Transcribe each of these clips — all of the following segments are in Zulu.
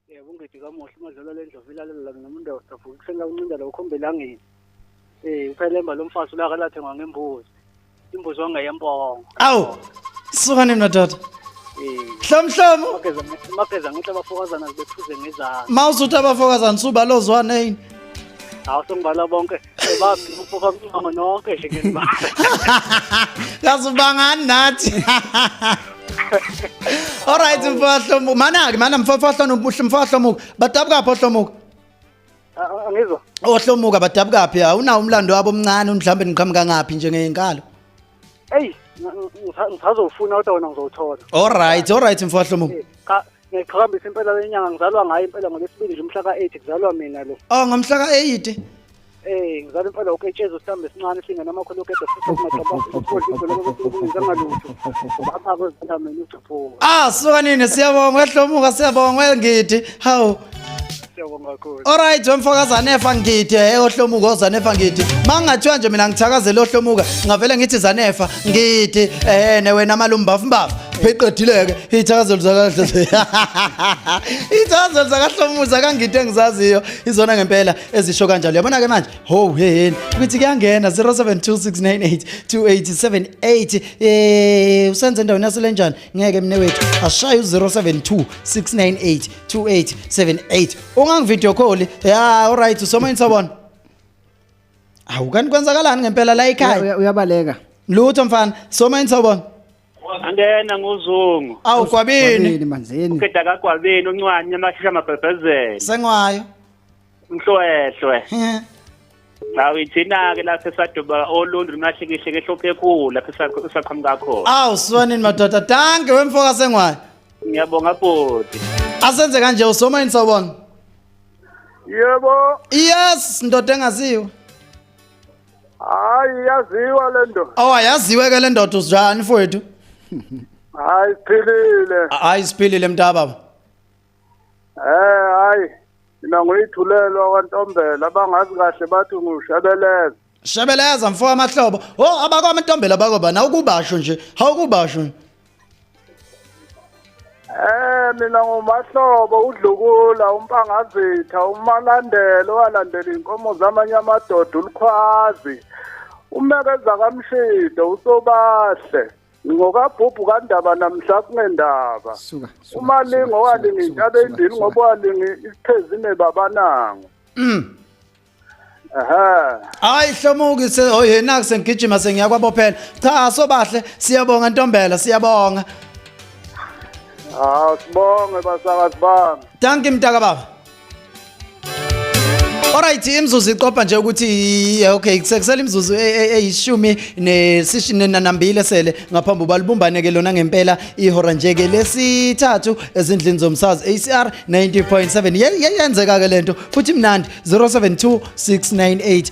yebo ungidi kamuhle umadlala le ndlovu ilalela mina umuntu awusavuka ekuseni lakuncinda la ukhombe elangeni um uphelemba lo mfazi ulaka lathengwa ngembuzi imbuzi wangeyembongo awu sukani madoda mhlomhlomu mageza ngithi abafokazana zibephuze ngezana ma usuthi abafokazana subalozwaneyini hawu sengibala bonke Babi uphupha umncamo nonke nje ngenimali. Kaze ubangani nathi. Alright mfahlomuka. Mana ke mana mfahlomuka mfahlomuka. Badabuka pho hlomuka. Angizwa. Ohlomuka badabuka phi? Awunawo umlando wabo omncane mhlawumbe niqhamuka ngaphi njengeyinkalo? eyi ngisazowufuna kodwa wena ngizowuthola olright olright mfowahlomo eh, ngiqhakambisa impela lenyanga ngizalwa ngayo impela ngolesibili nje umhla ka-eight kuzalwa mina lo o oh, ngomhla ka-eight Eh ngizala impela uketsheza usitambe esincane singena amakhulu uketsheza futhi-angalutho lapha kwezintameni uthuphuka ah suka nini siyabonga ehlomuka siyabonga ngidi hawu Siyabonga kakhulu. Alright wemfokazane efa ngidi eh ohlomuka ozanefa ngidi. Mangathiwa nje mina ngithakazela ohlomuka ngavele ngithi zanefa ngidi eh ne wena malumbafu mbafu. Pheqedileke ithakazelo zakahle. Ithakazelo zakahlomuza kangidi engizaziyo izona ngempela ezisho kanjalo. Yabona ke manje ho heheni ukuthi kuyangena 0726982878 eh usenze endaweni yaselenjani ngeke mnewethu ashaye u-072 698 2878 ungangivideo call ya alright usomoyini sobona awu kanti kwenzakalani ngempela la ekhaya Uya- uyabaleka lutho mfana somoyini sobona angena ngozungu awu kwabini Kwabini, manzini uqeda kagwabeni uncwani amashusha amabhebhezela sengwayo Mhlwehlwe. Nawu ithina ke lapha esaduba olundu lunahlikihle ke hlophe ekhulu lapha esaqhamuka kakhulu. Awu siwanini madoda. Danke wemfoka sengwayo. Ngiyabonga bhuti. Asenze kanje usoma yini sawubona? Yebo. Yes, ndoda engaziwa. Hayi yaziwa le ndoda. Oh ayaziwe ke le ndoda usinjani mfowethu? Hayi siphilile. Hayi siphilile mntaba baba. Eh hayi mina ngoyithulelwa kwantombela abangazi kahle bathi ngushebeleza. Shebeleza mfo amahlobo. Oh abakwa Ntombela bakwa bana ukubasho nje. Hawukubasho. Eh mina ngumahlobo udlukula umpangazitha umalandelo walandela inkomo zamanye amadoda ulikhwazi umekeza kamshido usobahle ngokabhubhu kandaba namhla kunendaba umalingi owalinga intaba endini ngoba walinga isiphezine babanango mm. hayi hlomuki oyena oh, kusengigijima sengiyakwabophela cha sobahle siyabonga ntombela siyabonga hawu sibonge basakazi bami danki mntaka baba Alright imzuzu iqopha nje ukuthi okay kusela imzuzu e, e, eyishumi nesishini nanambile sele ngaphambi balibumbane ke lona ngempela ihora nje ke lesithathu ezindlini zomsazi ACR 90.7 yeyenzeka ke lento futhi mnandi 072698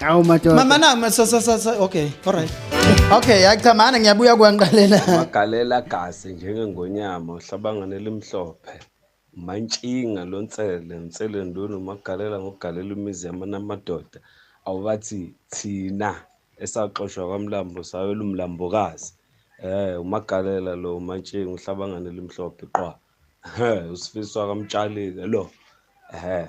Awu madoda. Mama na ma- sa sa sa sa- okay all right. Okay yachamana ngiyabuya kwanqalela. magalela gazi njengengonyama uhlabangane elimhlophe mantshinga lonsele nsele ndunu umagalela ngogalela imizi yamana amadoda awubathi thina esaxoshwa kwamlambo sayela umlambokazi um umagalela lo umantshinga uhlabangane elimhlophe qwa Ehhe, usifiswa kamtshalike lo um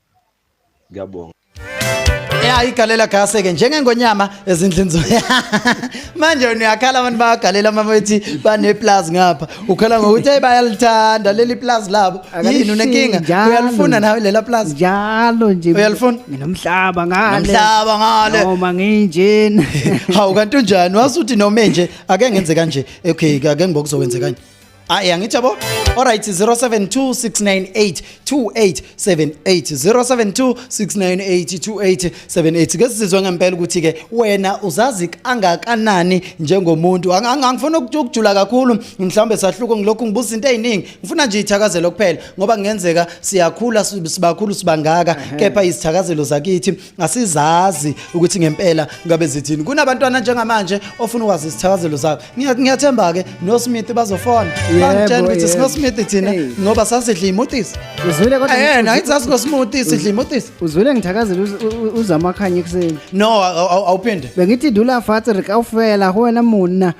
ngiyabonga ya igalela gaseke njengengonyama ezindlini zo manje uyakhala abantu bayagalela uma bethi baneplus ngapha ukhala ngokuthi hey bayalithanda leli plus labo yini unenkinga uyalifuna nawe lela plus njalo nje uyalifuna nginomhlaba ngale nomhlaba ngale noma nginjena hawu kanti unjani wasuthi noma nje ake ngenze kanje okay ake ngibokuzokwenze kanje Ayi angithi yabo. Alright 0726982878 ke sizizwe ngempela ukuthi ke wena uzazi kangakanani njengomuntu angifuna ukujula kakhulu mhlawumbe sahluko ngilokhu ngibuza into eziningi ngifuna nje ithakazelo kuphela ngoba kungenzeka siyakhula sibakhulu sibangaka kepha izithakazelo zakithi asizazi ukuthi ngempela ngabe zithini kunabantwana njengamanje ofuna ukwazi isithakazelo zabo ngiyathemba ke no Smith bazofona bangitshela ukuthi sino Smith thina ngoba sasidla imutis uzwile kodwa yena ayithi sasino smoothie sidla imutis uzwile ngithakazela uzamakhanya ekuseni no awuphinde bengithi dula fatri kawufela wena muna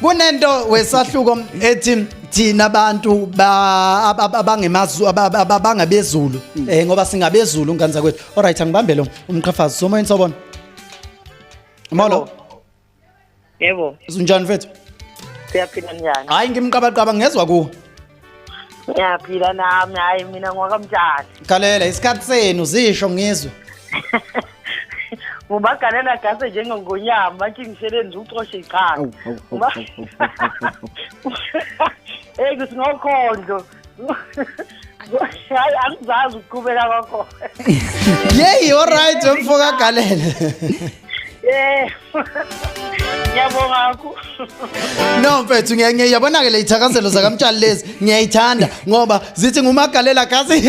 kunento wesahluko ethi thina abantu abangemazulu abangabezulu mm. eh ngoba singabezulu ngane zakwethu all right angibambe lo umqhafazi somoyeni sobona molo yebo unjani mfethu siyaphila njani hayi ngimqabaqaba ngezwa kuwe ngiyaphila nami hayi mina ngwakamtshana galela isikhathi senu zisho ngizwe ngubagalela gase njengengonyama manje ngisebenza ucoshe ichaka eyi kuthi ngokhondlo hayi angizazi ukuqhubeka kwakhona yeyi olright wemfo kagalele Yeah. Ngiyabonga kakhulu. No mfethu ngiya- ngiya- yabona-ke le yithakazelo zakamtshali lezi ngiyayithanda ngoba zithi ngumagalela gazi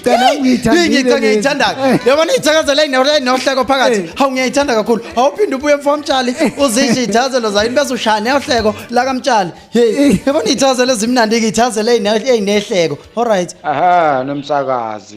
Cha, nami ngiyithandile Ngiyithi lezi. ngiyayithanda-ke yabona iyithakazelo eyine- nohleko phakathi Eh. hawu ngiyayithanda kakhulu awuphinde ubuye mfamtshali uzisho iyithakazelo zayo bese ushaya neyohleko lakamtshali heyi yabona iyithakazelo ezimnandi-ke iyithakazelo eyine- eyinehleko all right Aha nomsakazi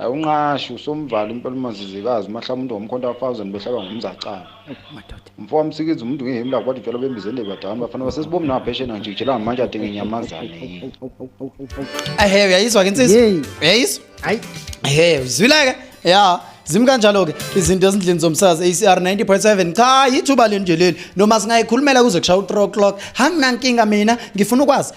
awunqashi usomvala impela umanzizikazi umahla umuntu ngomkhonto wa-thousand behlaba ngomzacana umfo wamsikiza umuntu ngehemu lakho bathi utshwala bembiza endebadani bafana basesibomni naphesheni angijikijelanga manje adinga inyamazane yini ehe uyayizwa ke insizwa Yey. uyayizwa Hayi. ehe uzwile-ke ya zimi kanjalo-ke izinto ezindlini zomsazi acr 90.7 cha yithuba lenu nje leli noma singayikhulumela kuze kushaya u-3 o'clock hanginankinga mina ngifuna ukwazi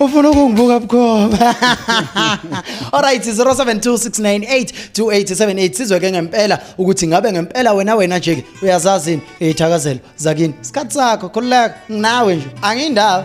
ufuna ukungibuka bukhoma alright 0726982878 sizwe ke ngempela ukuthi ngabe ngempela wena wena nje ke uyazazini izithakazelo zakini isikhathi sakho khululeka nginawe nje angiyindawo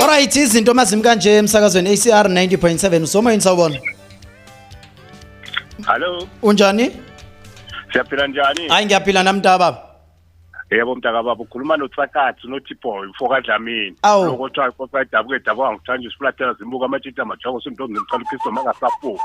Alright izinto mazim kanje emsakazweni ACR 90.7 usoma yini sawubona Hello Unjani Siyaphila njani Hayi ngiyaphila nami mntaba Yebo mntaka baba ukhuluma notsakathi noThiboy mfoka Dlamini lokuthiwa ifosa idabuke dabuka ngithanda isifulathela zimbuka amatshitha amajongo sintombi ngicela uKristo makasafuka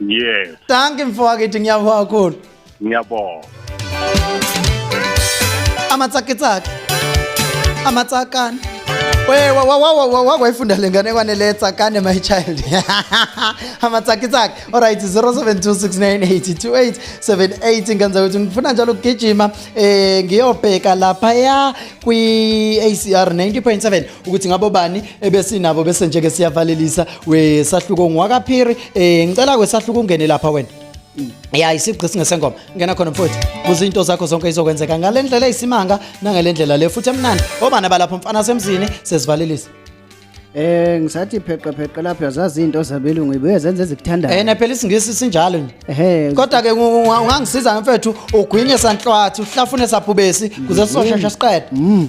yes danki mfowakithi ngiyabonga kakhulu ngiyabonga amatsakitsaki amatsakane wakwayifunda le ngane kwanele tsakane my child amatsakitsaki olright 0726982878 ngenza ukuthi ngifuna njalo ukugijima um ngiyobheka laphaya kwi-acr 90.7 ukuthi ngabo bani ebesinabo bese nje ke siyavalelisa wesahluko ngwakaphiri eh ngicela kwesahluko ungene lapha wena ya isigqi singesengoma ngena khona mfowethu kuze into zakho zonke izokwenzeka ngale ndlela eyisimanga nangale ndlela le futhi emnandi obana balapho mfana semzini sesivalelisa Eh ngisathi pheqe pheqe lapho yazazi into zabelungu ibuye zenze ezikuthandayo. Eh naphela isingisi sinjalo nje. Ehhe. Kodwa ke ungangisiza mfethu ugwinye sanhlwathi uhlafune sabhubesi kuze sizoshesha siqede. Mm.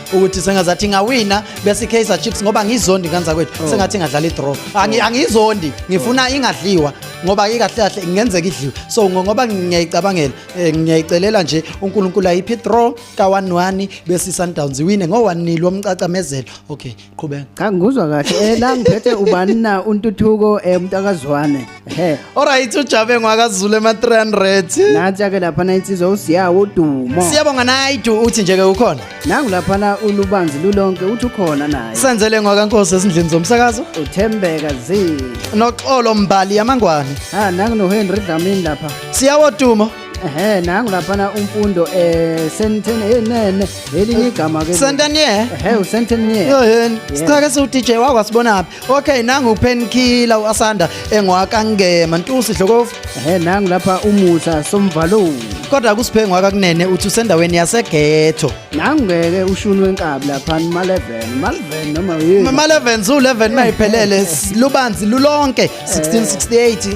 ukuthi sengazathi ingawina bese i-Kaizer Chiefs ngoba ngizondi kanza kwethu oh. sengathi ingadlala i-draw oh. angizondi ngifuna oh. ingadliwa ngoba ikahle kahle ngenzeka idliwe so ngoba ngiyayicabangela eh, ngiyayicelela nje uNkulunkulu ayiphi draw ka 1-1 bese Sundowns iwine ngo 1-0 omcacamezelo okay qhubeka cha ngikuzwa kahle eh la ngiphethe ubani na untuthuko eh, umuntu akazwane Ehe. Alright uJabe ngwakaZulu ema 300. Nathi ke lapha insizwa usiyawo udumo. Siyabonga Naidu uthi nje ke ukhona. Nangu lapha ulubanzi lulonke uthi ukhona naye. Senzele ngwakankosi esindlini zomsakazo. Uthembeka zi. Noxolo Mbali yamangwane. Ha nangu no Henry Dlamini lapha. Siyawo dumo. ehe nangu laphana umfundo eh senteni enene eh, elinye igama ke senteni ehe usenteni yini sichake siwu DJ wakho asibonaphi okay nangu upenkiller uasanda engwakangema ntusi dlokovu ehe nangu lapha umusa somvaloni kodwa kusiphe ngwakakunene uthi usendaweni yasegetho nangeke ushuni wenkabi lapha ma 11 ma 11 noma yini ma 11 zu 11 mayiphelele lubanzi lulonke 1668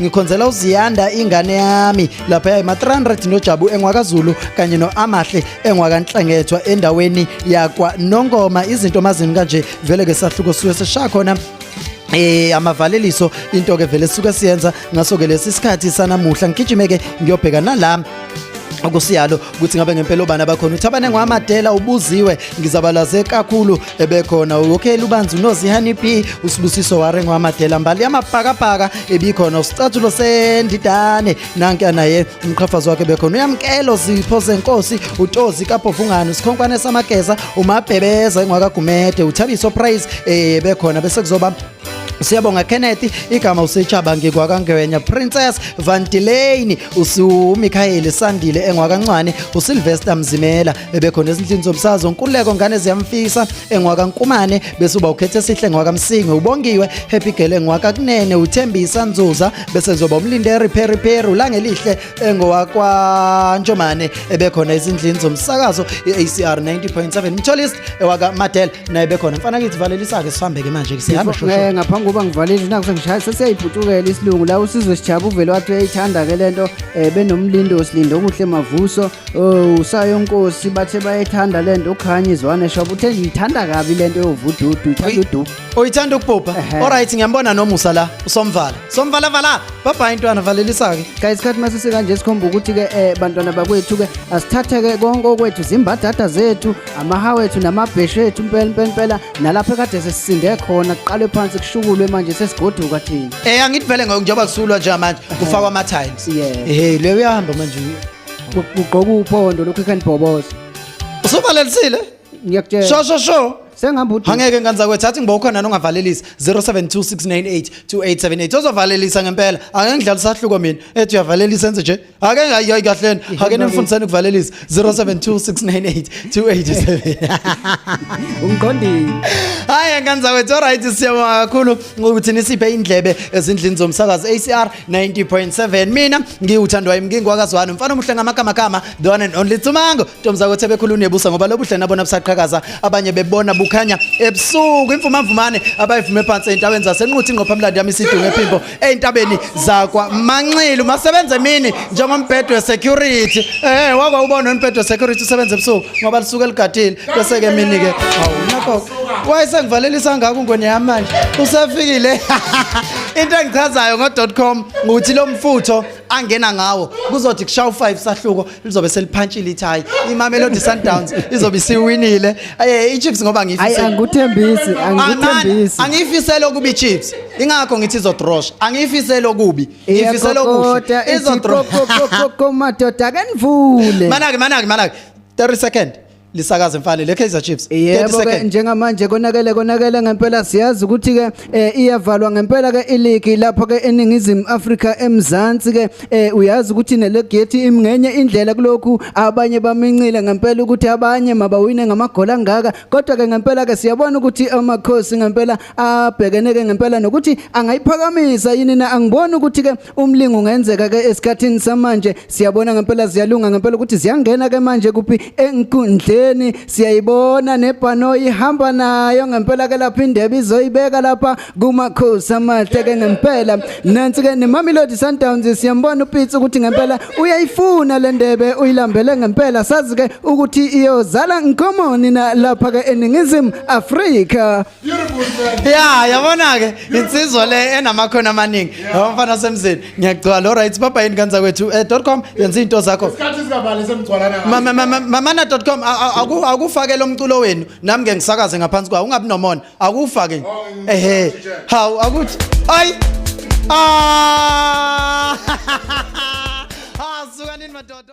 ngikhonzela uziyanda ingane yami lapha yayi ma-300 nojabu enwakazulu kanye no-amahle enwakanhlengethwa endaweni yakwa nongoma izinto mazini kanje vele ke sahluko suke sesishaya khona eh amavaleliso into ke vele suke siyenza ngaso ke lesi sikhathi sanamuhla ngigijimeke ngiyobheka nala okusiyalo ukuthi ngabe ngempela obani abakhona uthi abane ngwamadela ubuziwe ngizabalaze kakhulu ebekhona uyokhela ubanzi unozihani b usibusiso ware ngwamadela mbali yamabhakabhaka ebikhona usicathulo sendidane nanke anaye umqhafazi wakhe bekhona uyamkelo zipho zenkosi utozi kabhovungane sikhonkwane samageza umabhebeza engwakagumede uthabiso price eh bekhona bese kuzoba Siyabonga Kenneth igama usetshaba ngikwakangwenya Princess Vantilane usuMikhayeli Sandile engwakancwane uSylvester Mzimela ebekhona ezindlini zomsazo nkuleko ngane ziyamfisa engwakankumane bese uba ukhethe sihle ngwakamsingi ubongiwe Happy Girl engwakakunene uThembisa Nzuza bese zoba umlinde repair repair ulangelihle engowakwaNtshomane ebekhona ezindlini zomsakazo i-ACR 90.7 Mtholist ewaka Madel naye bekhona mfana kithi valelisa-ke sihambe-ke manje ke sihamba shosho Eh, ngaphambi kokuba ngivalile naku sengishaya sesiyayibhutukela isilungu la usizwe sijaba uvele wathi uyayithanda-ke le nto um benomlindo silindo okuhle mavuso oh, usayonkosi bathe bayayithanda le nto ukhanye izwane shoba uthe ngiyithanda kabi le nto yovududu uyithanda uduku uyithanda ukubhubha Ehhe. olright ngiyambona nomusa la usomvala somvala vala babhayi ntwana valelisa-ke guys khathi masise kanje sikhomba ukuthi-ke um bantwana bakwethu-ke asithathe-ke konke okwethu zimbadada zethu amaha wethu namabheshu ethu mpela mpela mpela nalapho ekade sesisinde khona kuqalwe phansi kushukulwe manje sesigoduka thina um angithi vele ngoku njengoba kusulwa nje manje kufakwa ama-tiles ehe leyo uyahamba manje ugqoka uphondo lokhu ikhanibhoboza usuvalalisile ngiyakutshela sho sho sho sengihamba udu angeke nkanza kwethu athi ngiba ukhona nongavalelisa 0726982878 ozovalelisa ngempela ake ngidlala isahluko mina ethi uyavalelisa enze nje ake hayi hayi kahleni ake nimfundisani ukuvalelisa 0726982878 ungiqondile hayi nkanza wethu alright siyabonga kakhulu ngokuthi nisiphe indlebe ezindlini zomsakazo ACR 90.7 mina ngiwuthandwa imngingwakazwana mfana omuhle ngamagama gama the one and only Tsumango Ntombi zakho sebekhula unebusa ngoba lobuhle nabona busaqhakaza abanye bebona bukhanya ebusuku imfumamvumane abayivume phansi ezintabeni zasenquthi ingqophamlando yami isidunge ephimbo ezintabeni zakwa Manxilu masebenze mini njengombhedo wesecurity eh wako ubona umbhedo wesecurity usebenza ebusuku ngoba lisuke ligadile bese ke mini ke awunakho wayesengivalelisa ngako ngone yami manje usefikile into engichazayo ngo.com ukuthi lo mfutho angena ngawo kuzothi kushaya u5 sahluko lizobe seliphantshile ithayi imamelodi sundowns izobe isiwinile aye ichiefs ngoba Ayi ngiyifisela angikuthembisi, Aman, angikuthembisi. angiyifisela okubi ichiefs ingakho ngithi izodrosha angiyifisela okubi ngiyifisela Iyakokota, okuhle ithi izodrosha kokokokoko, madoda ke nivule. manake manake manake 30 second lisakaze mfane le Kaizer Chiefs 30 yebo ke seconds njengamanje konakele konakele ngempela siyazi ukuthi ke eh, iyavalwa ngempela ke iligi lapho ke eningizimu Africa emzansi ke eh, uyazi ukuthi nelegeti imngenye indlela kulokhu abanye bamincile ngempela ukuthi abanye mabawine ngamagoli angaka kodwa ke ngempela ke siyabona ukuthi amakhosi ngempela abhekene ke ngempela nokuthi angayiphakamisa yini na angiboni ukuthi ke Umlingo ungenzeka ke esikhathini samanje siyabona ngempela ziyalunga ngempela ukuthi ziyangena ke manje kuphi enkundleni siyayibona nebhano ihamba nayo ngempela ke lapha indebe izoyibeka lapha kumakhosi amahle ke ngempela nansi ke neMamelodi Sundowns siyambona uPitsi ukuthi ngempela uyayifuna le ndebe uyilambele ngempela sazi ke ukuthi iyozala nkomoni na lapha ke eningizimu Afrika ya yabona-ke insizwa le enamakhono amaningi yaba mfana wasemzini ngiyagcwala lo right baba yini kanza kwethu um dot com yenza izinto zakho mamana dot com akufake lo mculo wenu nami nge ngisakaze ngaphansi kwawo ungabi nomona akufake oh, ehe hawu akuthi ayi ah! ah, sukanini madoda